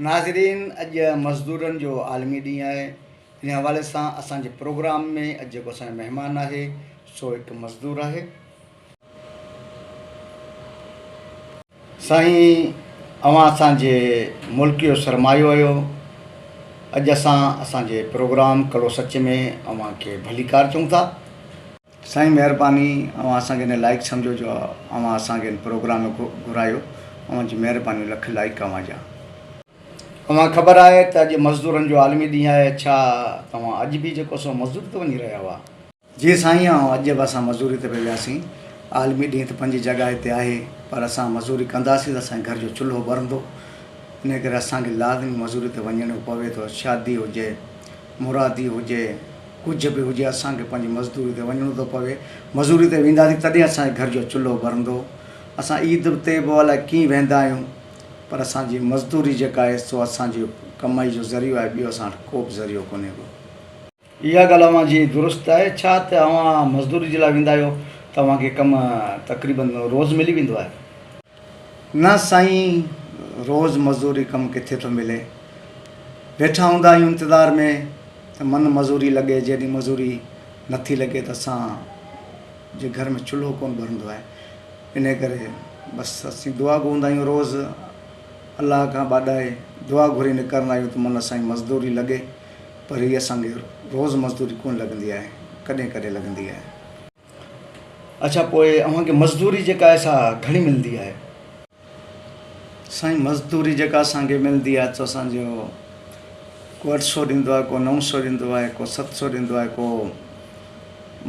ناظرين اڄ مزدورن جو عالمي ڏينهن آهي ان حوالي سان اسان جي پروگرام ۾ اڄ جيڪو اسان جو مهمان آهي سو هڪ مزدور آهي. سائين اوهان اسان جي ملڪ جو سرمايو اهيو اڄ اسان اسان جي پروگرام ڪڙو سچ ۾ اوهان کي ڀليڪار چئون ٿا. سائين مهرباني اوهان اسان کي ان لائق سمجهو جو اوهان اسان کي ان پروگرام ۾ گهرايو اوهان جي مهرباني لک لائق اوهان جا. اوهان خبر آهي ته اڄ مزدورن جو عالمي ڏينهن آهي ڇا توهان اڄ به جيڪو سو مزدوري تي وڃي رهيا هئا. جي سائين آئون اڄ به اسان مزدوري تي پئي وياسين عالمي ڏينهن ته پنهنجي جڳهه تي آهي پر اسان مزدوري ڪنداسين ته اسان جي گهر جو چلهو ٻرندو انهي ڪري اسان کي لازمي مزدوري تي وڃڻو پوي ٿو شادي هجي مرادي هجي ڪجهه به هجي اسان کي پنهنجي مزدوري تي وڃڻو ٿو پوي مزوري تي وينداسين تڏهن اسان جي گهر جو چلهو ٻرندو اسان عيد تي به الائي ڪيئن ويندا آهيون پر اسان جي مزدوري جيڪا آهي سو اسان جي ڪمائي جو ذريعو آهي ٻيو اسان وٽ ڪو به ذريعو ڪونهي ڪو. اها ڳالهه اوهان جي درست آهي ڇا ته اوهان مزدوري جي لاء ويندا آهيو ته اوهان کي ڪم تقريبن روز ملي ويندو آهي. نه سائين روز مزوري ڪم ڪٿي ٿو ملي. ويٺا هوندا آهيون انتظار ۾ ته من مزوري لڳي جيڏينهن مزوري نٿي لڳي ته اسان جي گهر ۾ چلهو ڪونه ٻرندو آهي انهي ڪري بس اسين دعا گو هوندا آهيون روز الله کان ٻاڏائي دعا گهري نڪرندا آهيون ته من سائين مزدوري لڳي پر هي اسان کي روز مزدوري ڪونه لڳندي آهي ڪڏهن ڪڏهن لڳندي آهي. اڇا پوء اوهان کي مزدوري جيڪا آهي سا گهڻي ملندي آهي؟ سائين مزدوري جيڪا اسان کي ملندي آهي سو اسان جو ڪو اٺ سو ڏيندو آهي ڪو نو سو ڏيندو آهي ڪو ست سو ڏيندو آهي ڪو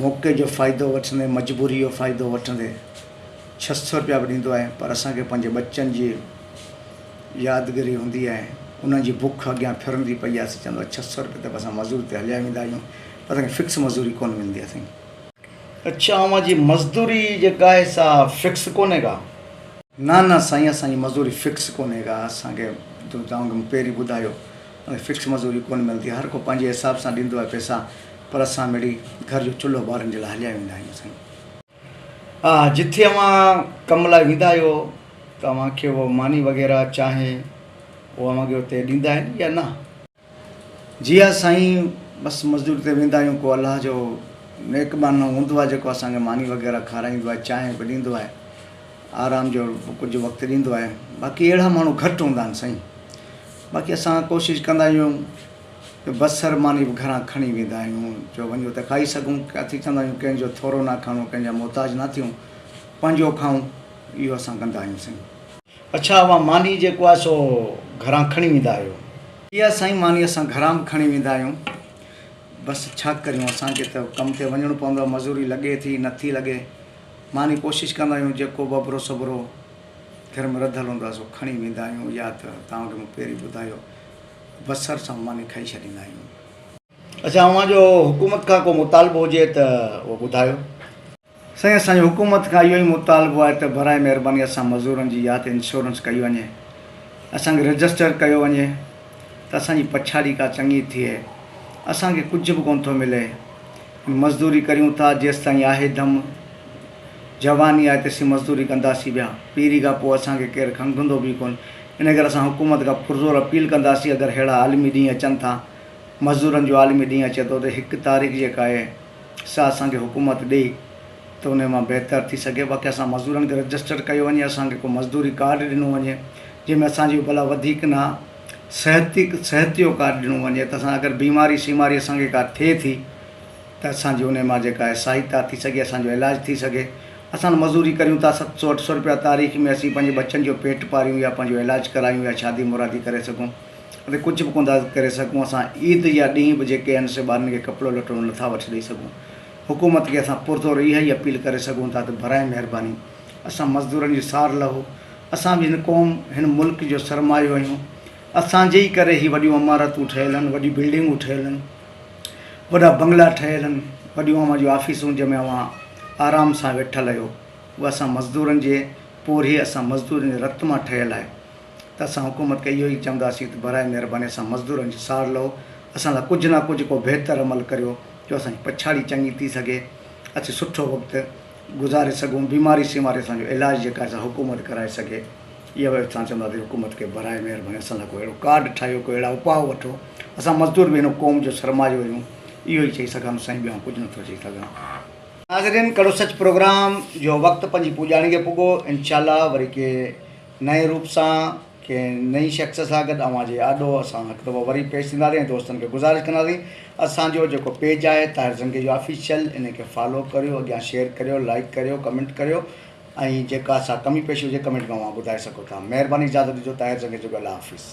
موقعي جو فائدو وٺندي مجبوري جو فائدو وٺندي ڇهه سو روپيا به ڏيندو آهي پر اسان کي پنهنجي ٻچن جي يادگري هوندي آهي انهن جي بک اڳيان ڦرندي پئي آهي سو چوندو آهي ڇهه سو روپيا ته به اسان مزوري تي هليا ويندا آهيون اسان کي فڪس مزدوري ڪونه ملندي آهي سائين. اڇا اوهان جي مزدوري جيڪا آهي سا فڪس ڪونهي ڪا. نه نه سائين اسان جي مزدوري فڪس ڪونهي ڪا اسان کي تو توهان کي پهرين ٻڌايو اسان کي فڪس مزدوري ڪونه ملندي هر ڪو پنهنجي حساب سان ڏيندو آهي پئسا پر اسان مڙئي گهر جو چلهو ٻارن جي لاء هليا ويندا آهيون سائين. ها جٿي اوهان ڪم لاء ويندا آهيو ته اوهان کي اهو ماني وغيره چانهه اهو اوهان کي اتي ڏيندا آهن يا نه. جي ها سائين بس مزدوري تي ويندا آهيون ڪو الله جو نيڪ ٻانهو هوندو آهي جيڪو اسان کي ماني وغيره کارائيندو آهي چانهه به ڏيندو آهي آرام جو ڪجهه وقت ڏيندو آهي باقي اهڙا ماڻهو گهٽ هوندا آهن سائين باقي اسان ڪوشش ڪندا آهيون ته بصر ماني به گهران کڻي ويندا آهيون جو وڃو ته کائي سگهون ڪاٿي چوندا آهيون ڪنهن جو ٿورو نه کڻو ڪنهن جا محتاج نه ٿيون پنهنجو کائون اهو اسان ڪندا آهيون سائين اڇا اوهان ماني جيڪو آهي سو گهران کڻي ويندا آهيو؟ اها سائين ماني اسان گهران به کڻي ويندا آهيون بس ڇا ڪريون اسان کي ته ڪم تي وڃڻو پوندو آهي مزوري لڳي ٿي نه ٿي لڳي ماني ڪوشش ڪندا آهيون جيڪو به اڀرو سڀرو گهر ۾ رڌل هوندو آهي سو کڻي ويندا آهيون يا ته توهان کي مون پهرين ٻڌايو بصر سان ماني کائي ڇڏيندا آهيون. اڇا اوهان جو حڪومت کان ڪو مطالبو هجي ته اهو ٻڌايو. سائين اسان جو حڪومت کان اهو ئي مطالبو آهي ته براء مهرباني اسان مزورن جي يا ته انشورنس ڪئي وڃي اسان کي رجسٽر ڪيو وڃي ته اسان جي پڇاڙي ڪا چڱي ٿئي اسان کي ڪجهه به ڪونه ٿو ملي ۽ مزدوري ڪريون ٿا جيستائين آهي دم جواني آهي تيسين مزدوري ڪنداسين پيا پيري کان پوء اسان کي ڪير کنگهندو به ڪونه ان ڪري اسان حڪومت کان پرزور اپيل ڪنداسين اگر ههڙا عالمي ڏينهن اچن ٿا مزورن جو عالمي ڏينهن اچي ٿو ته هڪ تاريخ جيڪا آهي سا اسان کي حڪومت ڏي ته انهي مان بهتر ٿي سگهي باقي اسان مزدورن کي رجسٽر ڪيو وڃي اسان کي ڪو مزدوري ڪارڊ ڏنو وڃي جنهن ۾ اسان جي ڀلا وڌيڪ نه صحتي صحت جو ڪارڊ ڏنو وڃي ته اسان اگر بيماري شيماري اسان کي ڪا ٿئي ٿي ته اسان جي انهي مان جيڪا آهي سهائتا ٿي سگهي اسان جو علاج ٿي سگهي اسان مزوري ڪريون ٿا ست سو اٺ سو روپيا تاريخ ۾ اسين پنهنجي ٻچن جو پيٽ پاريون يا پنهنجو علاج ڪرايون يا شادي مرادي ڪري سگهون اتي ڪجهه به ڪونه ٿا ڪري سگهون، اسان عيد يا ڏينهن به جيڪي آهن سي ٻارن کي ڪپڙو لٽو نه ٿا وٺي ڏئي سگهون، حڪومت کي اسان پرزور اها ئي اپيل ڪري سگهون ٿا ته براهه مهرباني اسان مزدورن جي سار لهو، اسان به هن قوم هن ملڪ جو سرمايو آهيون، اسان جي ئي ڪري هي وڏيون عمارتون ٺهيل آهن، وڏيون بلڊنگون ٺهيل آهن، وڏا بنگلا ٺهيل آهن، وڏيون اوهان جون آفيسون جنهن ۾ اوهان آرام سان ويٺل آهيو اها اسان مزدورن جي پورهيي اسان مزدورن جي رت مان ٺهيل آهي. ته اسان حڪومت کي اهو ئي چونداسين ته براء مهرباني اسان مزدورن جي ساڙ لهو، اسان لاء ڪجهه نه ڪجهه ڪو بهتر عمل ڪريو جو اسان جي پڇاڙي چڱي ٿي سگهي، اسين سٺو وقت گذاري سگهون، بيماري سيماري اسان جو علاج جيڪا آهي سا حڪومت ڪرائي سگهي، اها به اسان چونداسين حڪومت کي براء مهرباني اسان لاء ڪو اهڙو ڪارڊ ٺاهيو، ڪو اهڙا اپاء وٺو، اسان مزدور به هن قوم جو سرمايو آهيون، اهو ئي چئي سگهان ٿو سائين ٻيو آئون ڪجهه نه ٿو چئي سگهان. ناظرين ڪڙو سچ پروگرام جو وقت پنهنجي پڄاڻي کي پڳو انشاء الله وري ڪي. نئين روپ سان ڪنهن نئين شخص سان گڏ اوهان جي آڏو اسان هڪ دفعو وري پيش ٿينداسين ۽ دوستن کي گذارش ڪنداسين اسان جو جيڪو پيج آهي طاهر زنگيجو آفيشل ان کي فالو ڪريو اڳيان شيئر ڪريو لائيڪ ڪريو ڪمينٽ ڪريو ۽ جيڪا سا ڪمي پيشي هجي ڪمينٽ ۾ اوهان ٻڌائي سگهو ٿا مهرباني اجازت ڏجو طاهر زنگيجو جو الله حافظ.